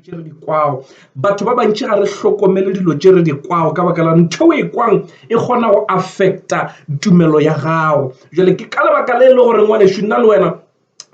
tše re di kwago batho ba bantši ga re hlokomele dilo tše re di kwago ka baka la ntho e kwang e kgona go affecta tumelo ya gago jale ke ka lebaka le e le gore ngwanešu nna le wena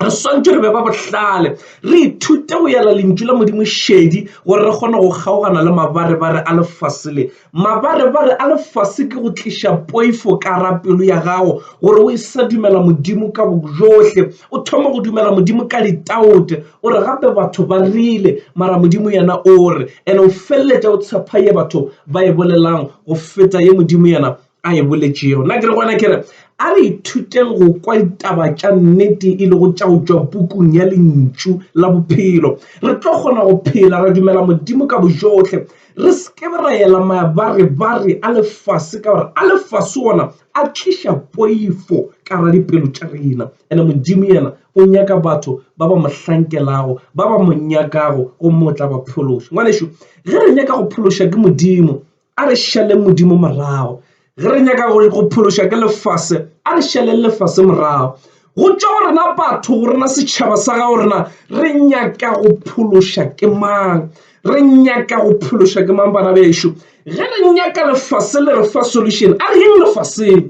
re swantse re be ba bohlale re ithute go yela lentšu la modimo šedi gore re kgone go kgaogana le mabarebare a lefase le Mabarebare a lefase ke go tliša poifo ka ra pelo ya gago gore o e sa dumela Modimo ka bojohle, o thoma go dumela Modimo ka litaote. O re gape batho ba rile, mara Modimo yena o re, ene o feleletša o tshepha ye batho ba e bolelang go feta ye Modimo yena a e boletšego. Nna ke re gona ke re a re ithuteng go kwa ditaba tša nnete e lego tša go tšwa pukung ya lentšu la bophelo. Re tlo kgona go phela ra dumela Modimo ka bojohle, re se ke ra ela mabarebare a lefase ka gore a lefase ona a tliša poifo ka gare dipelo tša rena. And-e Modimo yena o nyaka batho ba ba mo hlankelago, ba ba mo nyakago gomme o tla ba phološa. Ngwanešu, ge re nyaka go phološwa ke Modimo, a re šaleng modimo morago ge re nyaka go go phološwa ke lefase a re šaleng lefase morago go tšwa go rena batho go rena setšhaba sa gago rena re nyaka go phološwa ke mang re nyaka go phološwa ke mang bana bešo ge re nyaka lefase le re fa solution a reng lefaseng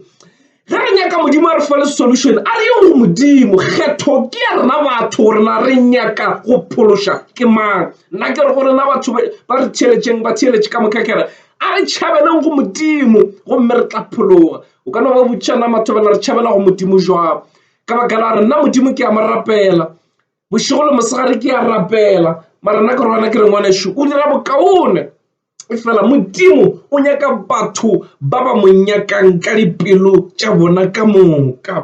Ge re nyaka Modimo a re fale solution, a re ye go Modimo. Kgetho ke ya rena batho gore na re nyaka go phološa ke mang. Nna ke re go rena batho ba re theeletšeng ba theeletše ka moka kere a re tšhabeleng go Modimo gomme re tla phologa. O ka no ba botša na mathobela re tšhabela go Modimo jwang ka baka la re nna Modimo ke a mo rapela bošego le mosegare ke a rapela mara nna ke re gona ke re ngwanešu o dira bokaone Efela Modimo o nyaka batho ba ba mo nyakang ka dipelo tša bona ka moka.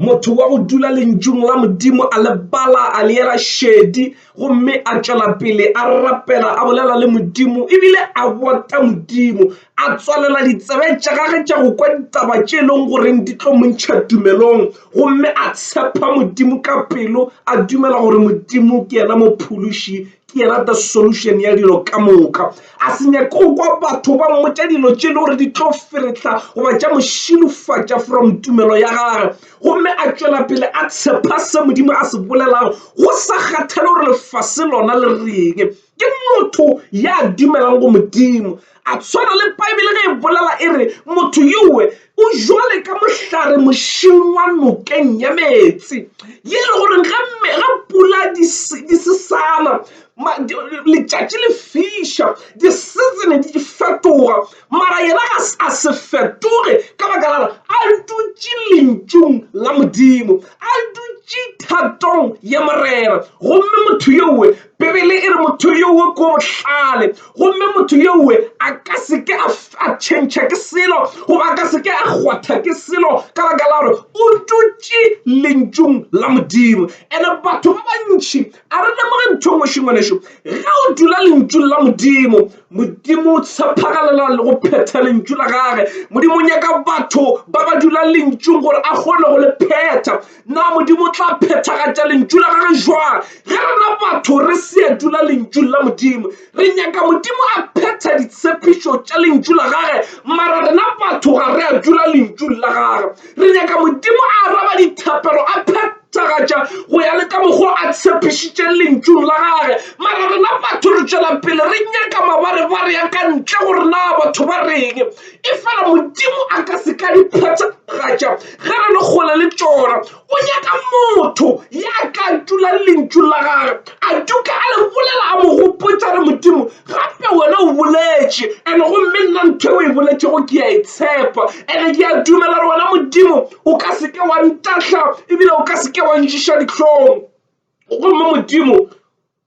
Motho wa go dula lentšung la Modimo a le bala a le yela šedi gomme a tšwela pele a rapela a bolela le Modimo ebile a bota Modimo a tswalela ditsebe tša gage tša go kwa ditaba tše e leng goreng di tlo montšha tumelong gomme a tshepa Modimo ka pelo a dumela gore Modimo ke yena mophološi ke rata solution ya dilo ka moka a se nyake go kwa batho ba mmotša dilo tše e le gore di tlo feretla goba tša mošilofatša from tumelo ya gage gomme a tšwela pele a tshepa se modimo a se bolelago go sa kgathale gore lefase lona le reng ke motho ya dumelang go modimo A swana le Bibele ge e bolela e re, Motho yowe o jwale ka mohlare mošing wa nokeng ya meetse, ye e le gore ge pula di se sana, letšatši le fiša, disizene di fetoga, mara yena a se fetoge ka baka la gore a dutše Lentšung la Modimo, a dutše thatong ya Morena. Gomme motho yowe Bibele e re motho yowe ko bohlale gomme motho yowe a ka se ke a tšhentšha ke selo goba a ka se ke a kgwatha ke selo ka baka la gore o tutše lentšung la modimo ene batho ba bantšhi a re lemoge ntho e ngwešongwaneso ge o dula lentšung la modimo modimo o tshephagalela le go phetha lentšu la gage modimo o nyaka batho ba ba dula lentšung gore a kgone go le phetha Na Modimo o tla phethagatša lentšu la gage jwang ge rena batho re se a dula lentšung la Modimo? Re nyaka Modimo a phetha ditshepišo tša lentšu la gage, mara rena batho ga re a dula lentšung la gage. Re nyaka Modimo a araba dithapelo, a phethagatša go ya le ka mokgwa o a tshepišitšeng lentšung la gage, mara rena batho re tšwela pele re nyaka mabarebare a ka ntle gore na batho ba reng. Efela Modimo a ka se ka di phethagatša ge re le kgole le tšona. O nyaka motho ya ka tula lentšu la gage a tuka a le bolela a mo gopotsa re Modimo gape wena o boletše and gomme nna ntho e o e boletšego ke a e tshepa and ke a dumela re wena Modimo o ka se ke wa ntahla ebile o ka se ke wa ntšiša dihlong gomme Modimo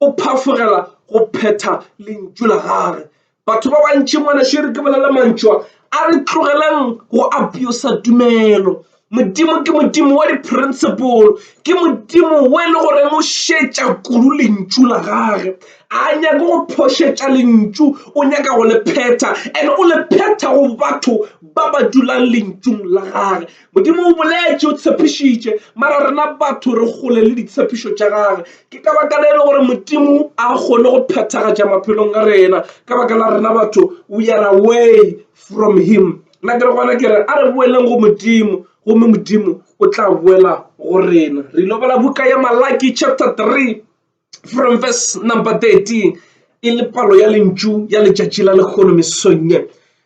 o phafogela go phetha lentšu la gage batho ba bantši ngwana šere ke bolela mantšwa a re tlogeleng go abuse tumelo modimo ke modimo wa di-principle ke modimo o e le gore o šetša kudu lentšu la gage a nyake go phošetša lentšu o nyaka go le phetha and o le phetha go batho ba ba dulang lentšung la gage Modimo o boletše, o tshepišitše, mara rena batho re kgole le ditshepišo tša gage. Ke ka baka le e le gore Modimo a kgone go phethagatša maphelong a rena ka baka la rena batho we are away from him. Nna ke re gona ke re a re boeleng go Modimo gomme Modimo o tla boela go rena. Re ilo bala buka ya Malaki chapter 3. from verse number 13 e le palo ya lentšu ya letšatši la lekgono mesong ye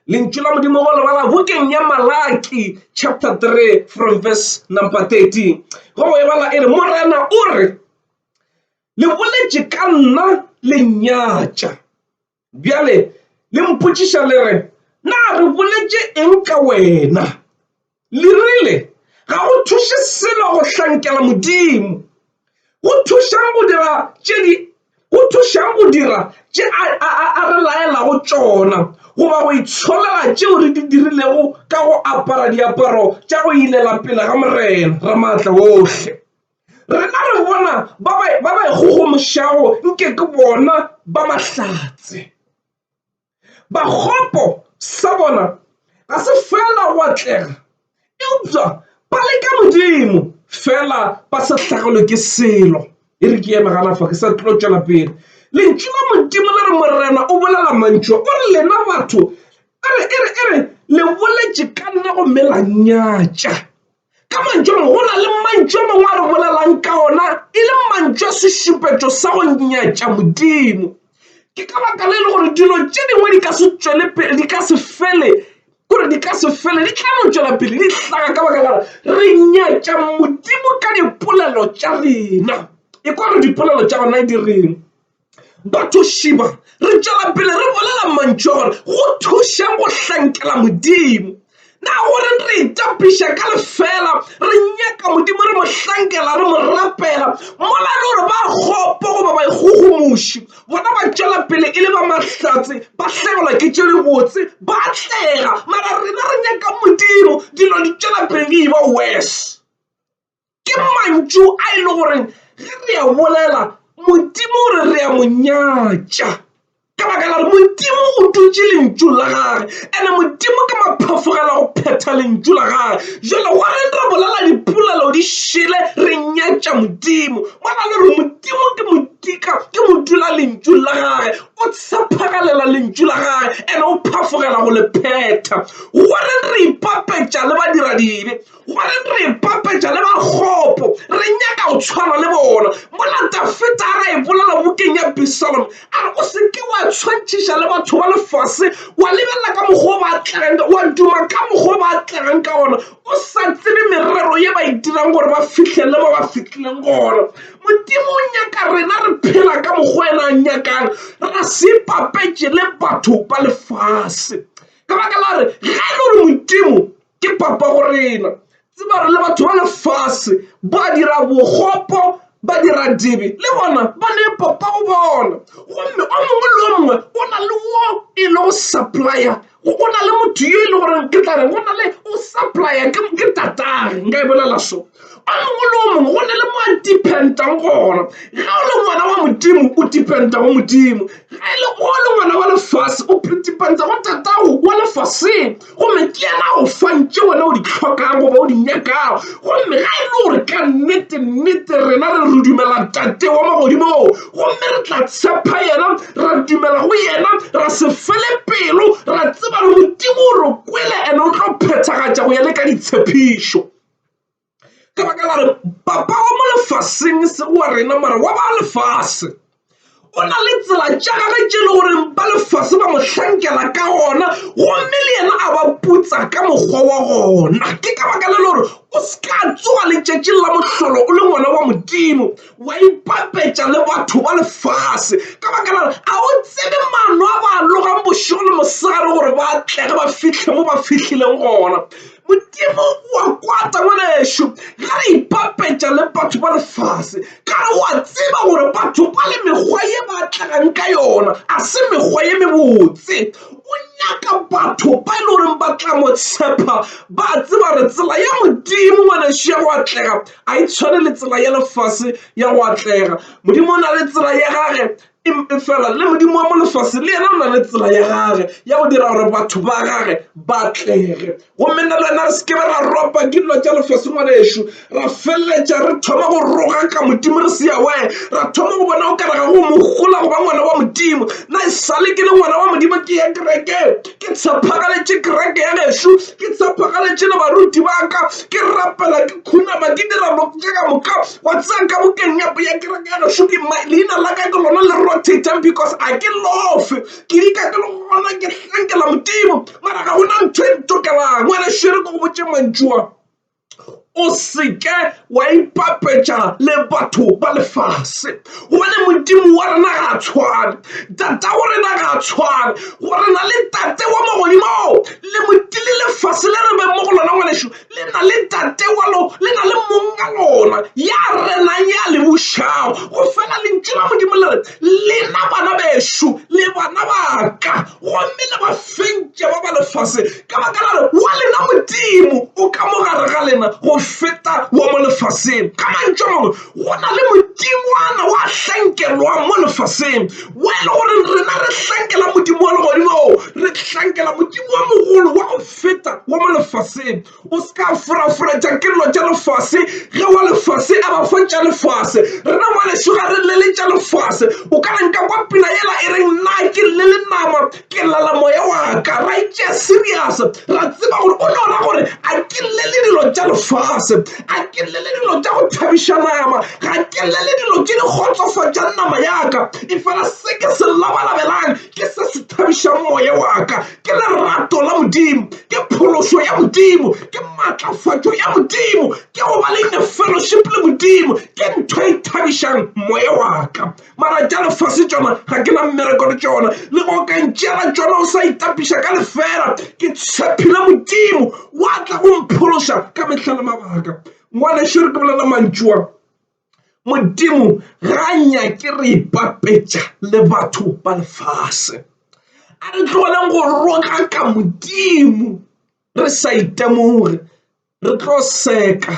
lentšu la modimo go lebala bokeng ya malaki chapter 3 from verse number 13 go go ebala e re morena o re le boletše ka nna le nyatša Bjale le mpotšiša le re, Na re boletše eng ka wena? Le rile, Ga go thuše selo go hlankela Modimo. Go thušang go dira tše di go thušang go dira tše a, a, a, a re laelago tšona goba go itsholela tšeo re di dirilego ka go apara diaparo tša go ilela pele ga Morena Ramaatla wohle? Rena re bona ba ba e kgogomošago nke ke bona ba mahlatse. Bakgopo sa bona ga se feela go atlega, eupša ba leka Modimo feela ba sa hlagelwe ke selo. E re ke eme gana fa ke sa tlo tšwela pele. Lentšu la Modimo le re Morena o bolela mantšu a, o re lena batho e re le boletše ka nna gomme la nnyatša. Ka mantšu a mangwe, go na le mantšu a mangwe a re bolelang ka ona e le mantšu a sešupetšo sa go nyatša Modimo. Ke ka baka le e le gore dilo tše dingwe di ka se tšwele pele di ka se fele gore di ka se fele di tla no tšwela pele di hlaga ka baka lare re nyatša Modimo ka dipolelo tša rena e kwa re dipolelo tša gona di reng. Batho šiba re tšwela pele re bolela mantšu a gore go thuše go hlankela Modimo. Na gore re itapiša ka lefela re nyaka Modimo re mo hlankela re mo rapela mola le gore ba kgopo goba ba ikgogomoši bona ba tšwela pele e le ba mahlatse ba hlagelwa ke tše dibotse ba atlega mara rena re nyaka Modimo dilo di tšwela pele di e ba worse. Ke mantšu a e le goreng ge re a bolela Modimo o re re a mo nyatša ka baka la gore Modimo o dutše lentšu la gage ene Modimo ke maphafogela go phetha lentšu la gage jalo wa re re bolela dipolelo di šele re nyatša Modimo ba na le gore Modimo ke modika ke mo dula lentšu la gage o tshephagalela lentšu la gage ene o phafogela go le phetha gore re ipapetša le badira dibe Gore re ipapetša le bakgopo, re nyaka go tshwana le bona. Mola Dafita a re a e bolela bukeng ya Absalom, a re, O se ke wa tshwantšhiša le batho ba lefase, wa lebelela ka mokgwa ba atlegang, wa duma ka mokgwa ba atlegang ka gona, o sa tsebe merero ye ba e dirang gore ba fihlelele mo ba fihlileng gona. Modimo o nyaka rena re phela ka mokgwa yena a nyakang, ra se ipapetše le batho ba lefase. Ka baka la gore ge e le gore Modimo ke papa go rena tseba re le batho ba lefase ba dira bogopo ba dira dibe le bona ba ne papa go bona gomme o mongwe le o mongwe o na le wo e le go supplya o na le motho yo e le goreng ke tla re go na le o supplya ke tatag nka e bolela so a mongwe le o mongwe go ne le mo a dependang gona ge o le ngwana wa modimo o dependa go modimo ge e le o le ngwana wa lefase o dependa go tatago wa lefaseng gomme ke yena go fantše wena o di tlhokang goba o di nyakago gomme ga e le gore ka nnete nnete rena re re dumela tate wa magodimong gomme re tla tshepa yena ra dumela go yena ra se fele pelo ra tseba le modimo o re kwele ene o tlo phethagatša go ya le ka ditshepišo ka baka la re papa wa mo lefaseng se wa rena mara wa ba lefase o na le tsela tša gage tše e le goreng ba lefase ba mo hlankela ka gona gomme le yena a ba putsa ka mokgwa wa gona ke ka baka le le gore o se ka tsoga letšatšing la mohlolo o le ngwana wa modimo wa ipapetša le batho ba lefase ka baka la gore a o tsebe mano a ba logang bošego le mosegare gore ba tlege ba fihle mo ba fihlileng gona. Modimo o a kwata ngwanešu ge re ipapetša le batho ba lefase ka re o a tseba gore batho ba le mekgwa ye ba tlagang ka yona a se mekgwa ye mebotse. O nyaka batho ba e le goreng ba tla mo tshepa ba tseba gore tsela ya Modimo ngwanešu ya go atlega a e tshwane le tsela ya lefase ya go atlega. Modimo o na le tsela ya gage Efela le Modimo wa mo lefase le yena o na le tsela ya gage ya go dira gore batho ba gage ba tlege gomme nna le wena re sekebe ra ropa ke dilo tša lefase ngwana ešo ra feleletša re thoma go roga ka modimo re se yawae ra thoma go bona o karaga go mogola go ba ngwana wa modimo na e sale ke le ngwana wa modimo ke ya kereke ke tshepagaletše kereke ya gešu ke tshepagaletše le baruti ba ka ke rapela ke khunama ke dira jaaka moka Wa tseba ka bukeng ya ya kereke ya gašo ke ma leina la ka ke lona le rotator because a ke lofe ke dika ke le gona ke hlankela modimo mara ga gona ntho e ntokelang ngwana šere ke go botse mantšua o seke wa ipapetša le batho ba lefase gobane modimo wa rena ga a tshwane tata wa rena ga a tshwane go rena le tate wa magodimo le motile lefase le re beng mo go lona ngwanešo le na le Ntate wa lona, le na le Monga lona ya renang, ya le bušago. Go fela lentšu la Modimo le re, lena bana bešo le bana ba ka, gomme le ba fentše ba ba lefaseng, ka baka la re wa lena Modimo o ka mo gare ga lena go feta wa mo lefaseng. Ka mantšu a mangwe, go na le modingwana wa hlankelwang mo lefaseng, wa e le gore rena re hlankela modimo wa legodimo, re hlankela Modimo wa mogolo wa go feta wa mo lefaseng o se ka furafuratša ke dilo tša lefase ge wa lefase a ba fa tša lefase rena mo lešoga re le le tša lefase o ka re nka kwa pina yela e reng na ke le le nama ke lala moya wa ka ra itšea serious ra tseba gore o no ra gore a ke le le dilo tša lefase a ke le le dilo tša go thabiša nama ga ke le le dilo tše di kgotsofatšang nama ya ka e fela se ke se labalabelang ke se se thabišang moya wa ka ke lerato la Modimo, ke phološo ya Modimo, ke matlafatšo ya Modimo, ke go ba le in fellowship le Modimo, ke ntho e thabišang moya wa ka. Mara tša lefase tšona ga ke na mmereko le tšona, le go ka ntšeela tšona o sa itapiša ka lefela. Ke tshepile Modimo wa tla go mphološa ka mehla le mabaka. Ngwanešu re ke bolela mantšua. Modimo ga a nyake re ipapetša le batho ba lefase. A re tlogeleng go roga ka Modimo re sa itemoge, re tlo seka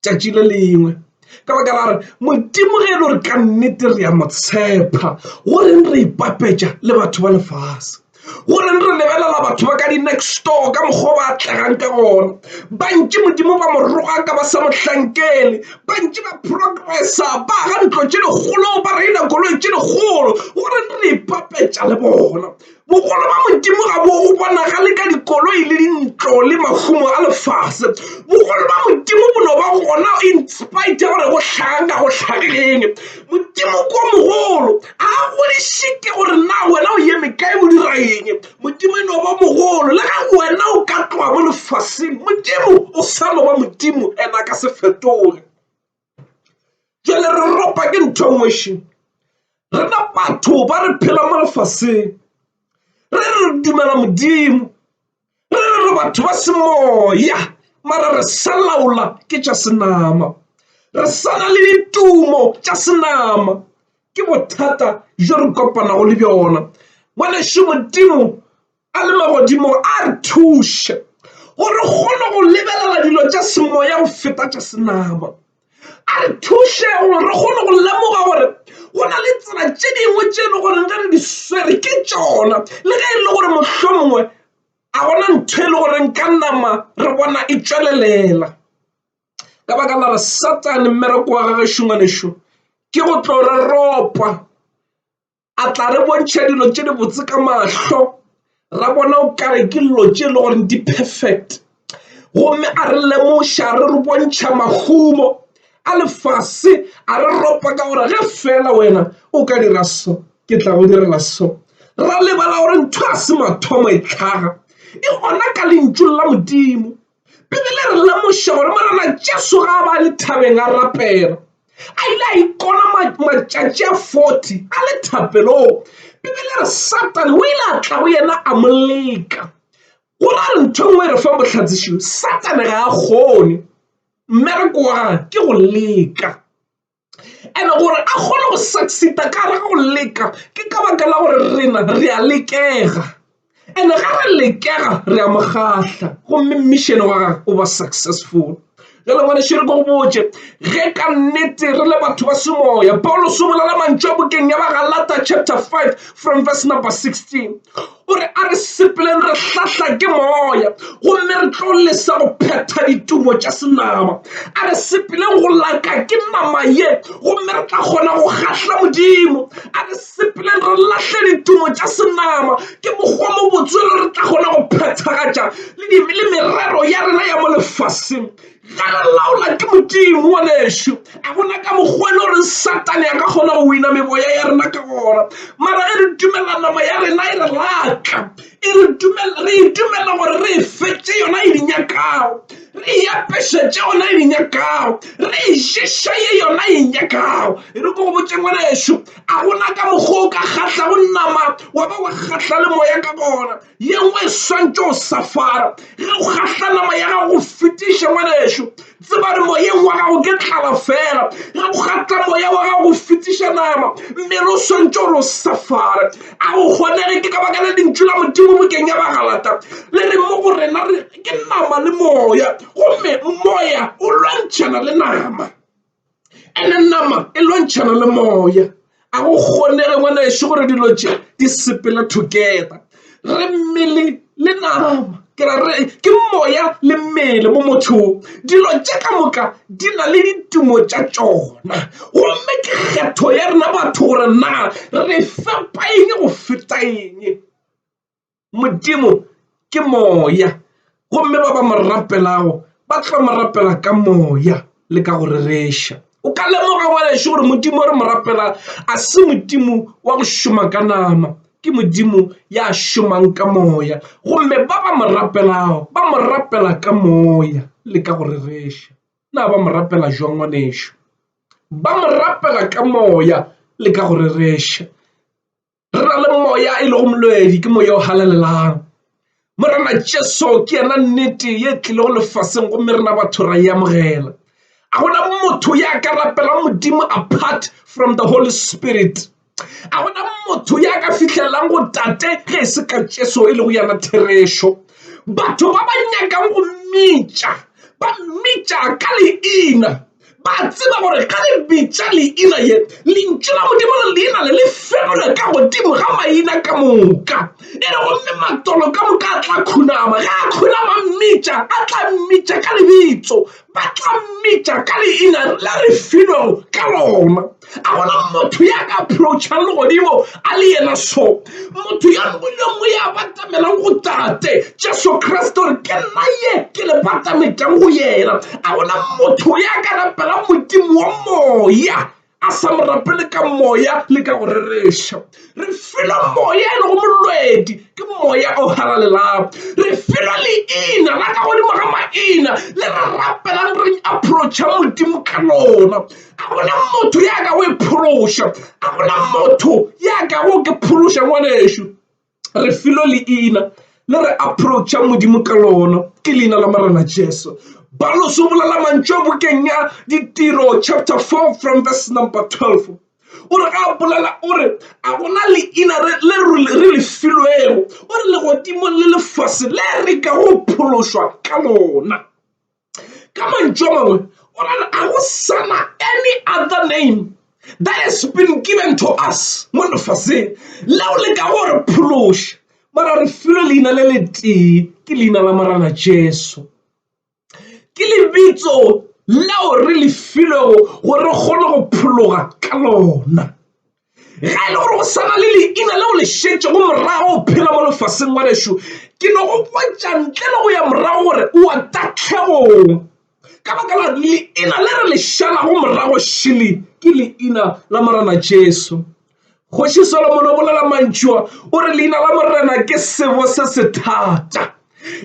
tšatši le lengwe ka baka la re Modimo ge e le gore ka nnete re a mo tshepa go reng re ipapetša le batho ba lefase. gore re lebelela batho ba ka di-next door ka mokgwa ba atlegang ka gona bantši modimo ba moroga ka ba sa mohlankele bantši ba progressa ba ga ntlo tše dikgolo ba reina koloi tše dikgolo gore re ipapetša le bona bogolo ba modimo ga bo go bonagale ka dikoloi le dintlo le mahumo a lefase bogolo ba modimo bo no ba gona inspite gore go tlhaga ka go tlhageng modimo ko mogolo Ga go re šite gore na wena o yeme kae o dira eng modimo e no ba mogolo le ga wena o ka tloga mo lefaseng modimo o sa no ba modimo and a ka se fetoge jale re ropa ke ntho e ngweši rena batho ba re phela mo lefaseng re re dumela modimo re re re batho ba semoya mara re sa laola ke tša senama re sana le ditumo tša senama ke bothata jo re kopanago le bjona ngwaneše modimo a le magodimo a re thuše gore kgone go lebelela dilo tša semoya go feta tša senama a re thuše gore re kgone go lemoga gore go na le tsela tše dingwe tše e le goreng ge re di swere ke tšona le ge e le gore mohlho mongwe a gona ntho e le goreng ka nama re bona e tšwelelela ka baka la re satane mmereko wa gagešongwanešu ke go tlo re ropa a tla re bontšha dilo tše di botse ka mahlo ra bona o kare ke dilo tše e le gore di perfect gomme a re lemoša re re bontšha mahumo a lefase a re ropa ka gore ge fela wena o ka dira so ke tla go direla so ra lebala gore ntho a se mathomo e tlhaga e gona ka lentšu la modimo Bibele e re lemoša gore Morena Jesu ga a ba le thabeng a rapela. A ile a ikona matšatši a 40 a le thapelong. Bibele e re Satane o ile a tla go yena a mo leka. Go ra re ntho e nngwe e re fang bohlatsišio, Satane ga a kgone. Mmereko wa gage ke go leka. And gore a kgone go succeed-a ka gare ga go leka ke ka baka la gore rena re a lekega and ga re lekega re a mokgahla gomme mmišene wa gage o ba successful. Jwale ngwane šere ko go botše ge ka nnete re le batho ba semoya Pauluse o bolela mantšu a bokeng ya ba Galata chapter 5 from verse number 16 O re, A re sepeleng re hlahla ke Moya, gomme re tlo lesa go phetha ditumo tša senama. A re sepeleng go laka ke nama ye, gomme re tla kgona go kgahla Modimo. A re sepeleng re lahle ditumo tša senama, ke mokgwa mo botswele re tla kgona go phethagatša le merero ya rena ya mo lefaseng. Ge re laola ke Modimo, ngwanešu, a gona ka mokgwa le gore Satane a ka kgona go wina meboya ya rena ka gona. Mara ge re dumella nama ya rena e re laatla, e re dumella, re e dumella gore re e fe tše yona e di nyakago, re e apeše tše yona e di nyakago, re e ješa ye yona e nyakago. E re ke go botše, ngwanešu, a gona ka mokgwa o ka kgahlago nama wa ba wa kgahla le moya ka gona. ye nngwe e swantšo o safara ge o kgahla nama ya gago go fetiša ngwaneso tseba re moyeng wa gago ke tlala fela ge o kgatla moya wa gago go fetiša nama mmele o swantšo gore o safare a go kgonege ke ka baka le lentšu la modimo bokeng ya bagalata le re mo go rena re ke nama le moya gomme moya o lwantšhana le nama ene nama e lwantšhana le moya a go kgonege ngwana ešo gore dilo tše di sepele together re mmele le nama ke ra re ke moya le mmele mo mothong dilo tše ka moka di na le ditumo tša tšona gomme ke kgetho ya rena batho gore na re fepa eng go feta eng modimo ke moya gomme ba ba mo rapelago ba tlo mo rapela ka moya le ka go rereša o ka lemoga ngwaneso gore modimo re mo rapela a se modimo wa go šoma ka nama ke modimo ya šomang ka moya gomme ba ba mo rapelago ba mo rapela ka moya le ka go rereša na ba mo rapela jwang ngwaneso ba mo rapela ka moya le ka go rereša re na le moya e lego molwedi ke moya o halalelang morena jesu ke yena nnete ye tlilego lefaseng gomme rena batho ra e amogela a gona motho ya ka rapelang modimo apart from the holy spirit a gona motho ya ka fitlhelelang go tate ge e se ka jesu e lego yana therešo batho ba ba nyakang go mmitša ba mmitša ka leina Ba tseba gore ge le bitša leina ye, Lentšu la Modimo le leina le le fegolwe ka godimo ga maina ka moka. E re gomme matolo ka moka a tla khunama. Ge a khunama mmitša, a tla mmitša ka lebitso. Ba tla mmitša ka leina le re filwego ka lona. a gona motho ya ka approachang legodimo a le yena so motho ya lengwelengwe ya batamelang go tate jesu kriste gore ke nna ye ke le batametang go yena a gona motho ya ka rapela modimo wa moya a sa mo rapele ka moya le ka go rereša re filwe moya e lego molwedi ke moya o halalelang re filwe leina la ka godimo ga maina le re rapelang re approacha modimo ka lona a go na motho ya ka go e phološa a go na motho ya ka go ke phološa ngwanešu re filo leina le re approacha modimo ka lona ke leina la marena jesu ba lo sobolela mantšu a bokeng ya ditiro chapter 4 from verse number 12 o re ga bolela o re a gona leina re le filwego o re legodimong le lefase le re ka go phološwa ka lona ka mantšu a mangwe o ra re a go sana any other name that has been given to us mo lefaseng leo le ka gore phološa mara re filwe leina le le tee ke leina la morana jesu ke lebitso leo re le filwego gore re kgone go phologa ka lona ge e le gore go swana le leina leo le šetšego morago o phela mo lefaseng wa lešo ke no go botša ntle le go ya morago gore o a tahlegong ka baka la leina le re le šalago morago šele ke leina la morena jesu kgoši solomon o bolela mantšua o re leina la morena ke sebo se se thata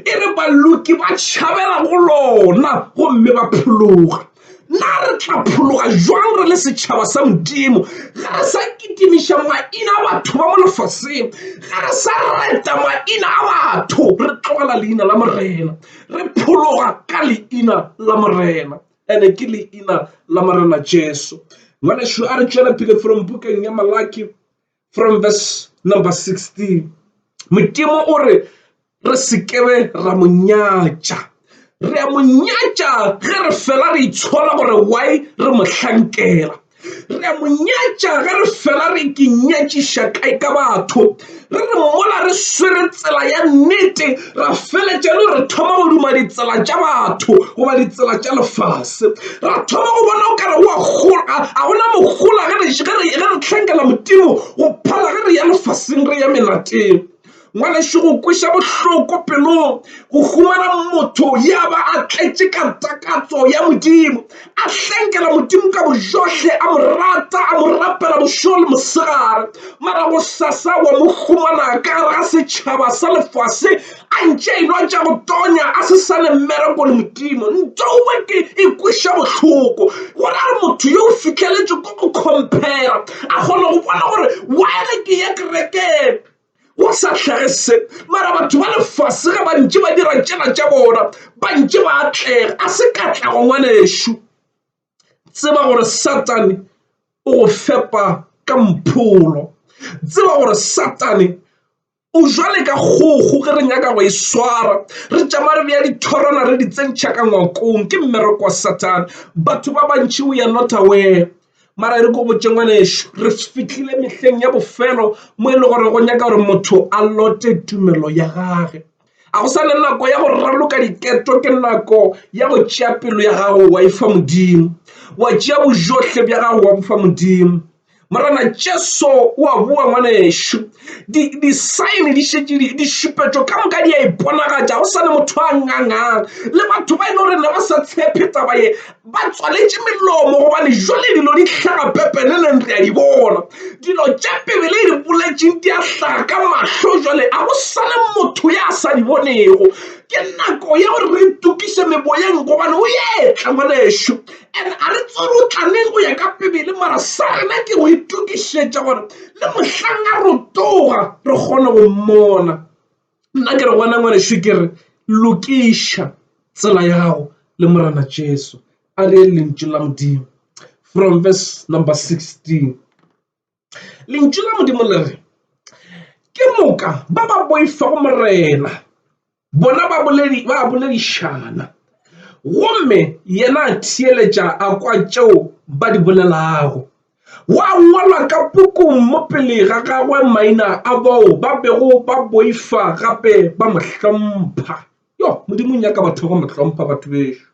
e re baloki ba tšhabela go lona gomme ba phologa na re tla phologa jwang re le setšhaba sa modimo ga re sa kitimiša maina a batho ba mo lefaseng ga re sa reta maina a batho re tlogela leina la morena re phologa ka leina la morena ene ke leina la morena jesu ngwanešu a re tšwele pele from bukeng ya malaki from verse number 16 modimo o re re sekebe ra mo nyatša re a mo nyatša ge re fela re itshola gore why re mo hlankela re a mo nyatša ge re fela re ke nyatšiša kae ka batho re re mola re swere tsela ya nnete ra feletša le re thoma go duma ditsela tša batho goba ditsela tša lefase ra thoma go bona o kare wa gola ga gona mogola ge re tlhankela modimo go phala ge re ya lefaseng re ya melateng ngwaneso go kwesa bohloko pelong go humana motho ya ba a tletše ka takatso ya modimo a hlankela modimo ka bojohle a mo rata a mo rapela bošego le mosegare mara go sasa wa mo humana ka gare ga setšhaba sa lefase a ntše a inwa tša go tonya a se sa ne mmereko le modimo ntouwe ke ikweša bohloko gore a re motho yo o fitlheletswe ko go compera a kgona go bona gore waele ke ya kerekeng go sa hlage se mara batho ba lefase ge bantši ba dira tšela tša bona bantši ba atlega a se katlego ngwanešu tseba gore satane o go fepa ka mpholo tseba gore satane o jwale ka kgogo ge re nyaka go e swara re tšama re beya dithorana re di tsentšha ka ngwakong ke mmereko wa satane batho ba bantši o ya not aware mara e re ko botse ngwanešu re fitlhile mehleng ya bofelo mo e le gore go nyaka gore motho a lote tumelo ya gage a go sa le nako ya go raloka diketo ke nako ya go tšea pelo ya gago wa e fa modimo wa tšea bojotlhe bja gago wa bofa modimo morana jesu o a boa ngwanešu disaene di šetše dišupetšo ka moka di a iponagatša go sa le motho a ngangang le batho ba e le gore ne ba sa tshepe taba ye ba tswaletše melomo gobane jwale dilo di hlaga pepeneneng re a di bona dilo tše pebele e di boletšeng di a hlaga ka mahlo jwale a go sale motho ya sa di bonego ke nako ya gore re tukise meboyeng gobane o yetla ngwanešu and a re tsere o tlaneng go ya ka pebele mara sa rena ke go itukišetša gore le mohlang a rotoga re kgone go mmona Nna ke re gona ngwanešu ke re lokiša tsela ya gago le Morena Jesu. A re yeng lentšu la Modimo from verse number 16. Lentšu la Modimo le re ke moka ba ba boifa go Morena bona ba boledi ba boledišana gomme yena a theeletša a kwa tšeo ba di bolelago. Gwa ngwalwa ka pukung mo pele ga gagwe maina a bao ba bego ba boifa gape ba mo hlompha. Yo, Modimo o nyaka batho ba mo hlompha, batho bešo.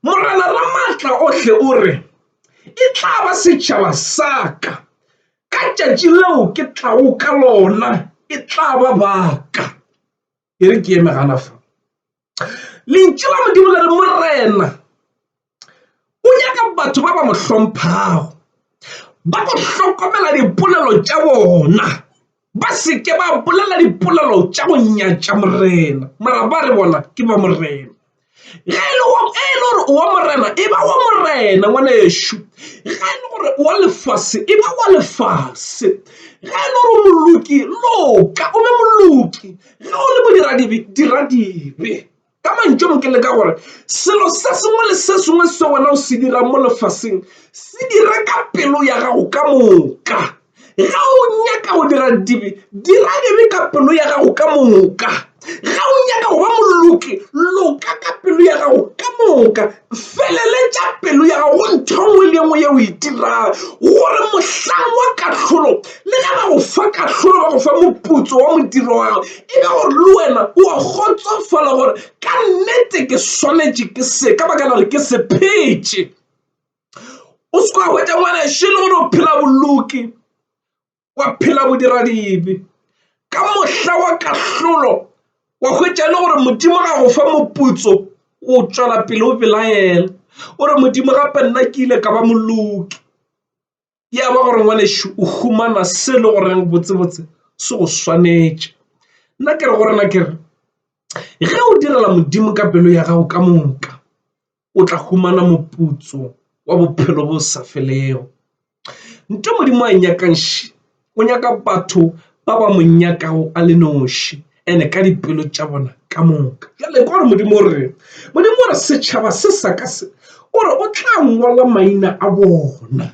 Morena Ramatla ohle o re, E tla ba setšhaba sa ka, ka tšatši leo ke tlago ka lona e tla ba ba ka. e re ke eme gana fa lentšu la modimo le re morena o nyaka batho ba ba mo hlomphago ba go hlokomela dipolelo tša bona ba seke ba bolela dipolelo tša go nyatša morena mara ba re bona ke ba morena ge e le gore o wa morena e ba wa morena ngwanešu ge e le gore o wa lefase e ba wa lefase ge e le gore o moloki loka o be moloki ge o le modiradibe dira dibe ka mantšu a mo ke le ka gore selo se sengwe le se sengwe se wena o se dirang mo lefaseng se dira ka pelo ya gago ka moka. Ge o nyaka go dira dibe, dira dibe ka pelo ya gago ka moka. Ge o nyaka go ba moloki, loka ka pelo ya gago ka moka. Feleletša pelo ya gago go ntho nngwe le nngwe yeo o e dirago, gore mohlang wa kahlolo, le ge ba go fa kahlolo, ba go fa moputso wa modiro wa gago, e be gore le wena o a kgotsofala gore ka nnete ke swanetše ke se, ka baka la gore ke sephetše. o se ka hwetša ngwanešu e le gore o phela boloki wa phela bodiradibe ka mohla wa kahlolo wa hwetša e le gore modimo ga go fa moputso o tšwela pele o belaela o re modimo gape nna ke ile ka ba moloki ya ba gore ngwanešu o humana se le goreng botsebotse se go swanetše nna ke re go rena ke re ge o direla modimo ka pelo ya gago ka moka o tla humana moputso wa bophelo bo sa felego nto modimo a nyakangši o nyaka batho ba ba mo nyakago a le noši ene ka dipelo tša bona ka moka bjale gore modimo o re modimo gore setšhaba se sa ka se o re o tla ngwala maina a bona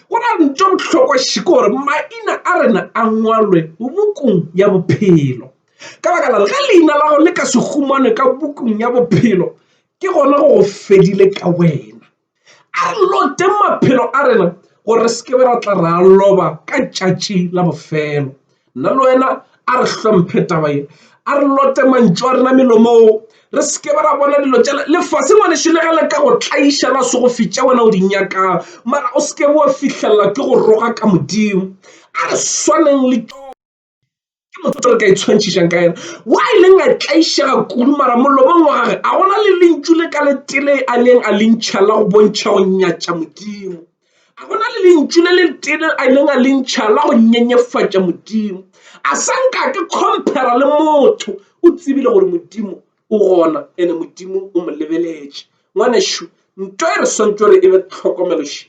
go na le ntho bohlokwa šiko gore maina a rena a ngwalwe bokong ya bophelo ka baka la ge leina la go le ka se humanwe ka bokong ya bophelo ke gona go go fedile ka wena a re lote maphelo a rena gore re seke ra tla ra loba ka tšatši la bofelo nna le wena a re hlomphe taba ye a re lote mantšu a rena melomong re seke ba ra bona dilo tša lefase ngwanešu le ge le ka go tlaiša la se go fitša wena o di nyakang mara o seke wa fihlelela ke go roga ka modimo a re swaneng le tšona ke motho o re ka itshwantšhišang ka yena wa e leng a tlaišega kudu mara molomong wa gage a gona le lentšu le ka letele a neng a lentšha la go bontšha go nyatša modimo a gona le lentšu le letele a neng a lentšha la go nyenyefatša modimo a sa nka ke compara le motho o tsebile gore modimo o gona ene modimo o mo lebeletše ngwanešu nto e re swantšo re e be tlhokomeloši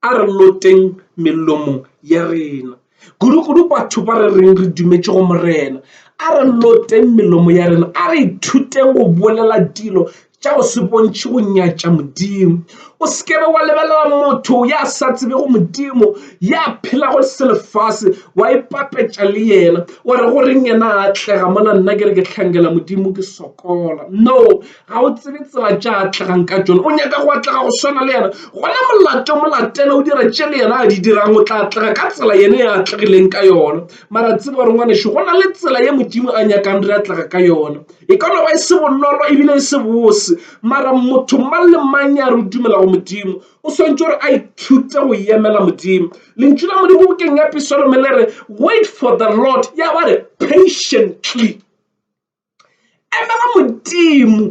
a re loteng melomo ya rena kudu-kudu batho ba re reng re dumetše go morena a re loteng melomo ya rena a re ithuteng go bolela dilo tša go se bontšhe go nyatša modimo o sekebe wa lebelela motho ya sa tsebe go modimo ya phelago selefase wa ipapetša le yena wa re goreng yena a atlega mona nna ke re ke tlhankela modimo ke sokola no ga o tsebe tsela tša atlegang ka tšone o nyaka go atlega go swana le yena gona molato molatele o dira tše le yena a di dirang o tla atlega ka tsela yene ya atlegileng ka yona mara tsebe gore ngwaneso go na le tsela ye modimo a nyakang re atlega ka yona e ka no ba e se bonolo ebile e se bose mara motho mang le mang ya re dumela go modimo o swantse gore a ithute go yemela modimo lentšu la modimo bokeng ya pisalome le re wait for the lord ya ba re patiently Emela Modimo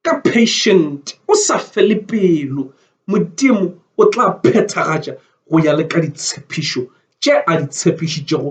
ka patient o sa fele pelo, Modimo o tla phethagatša go ya le ka ditshepišo tše a di tshepišitšego.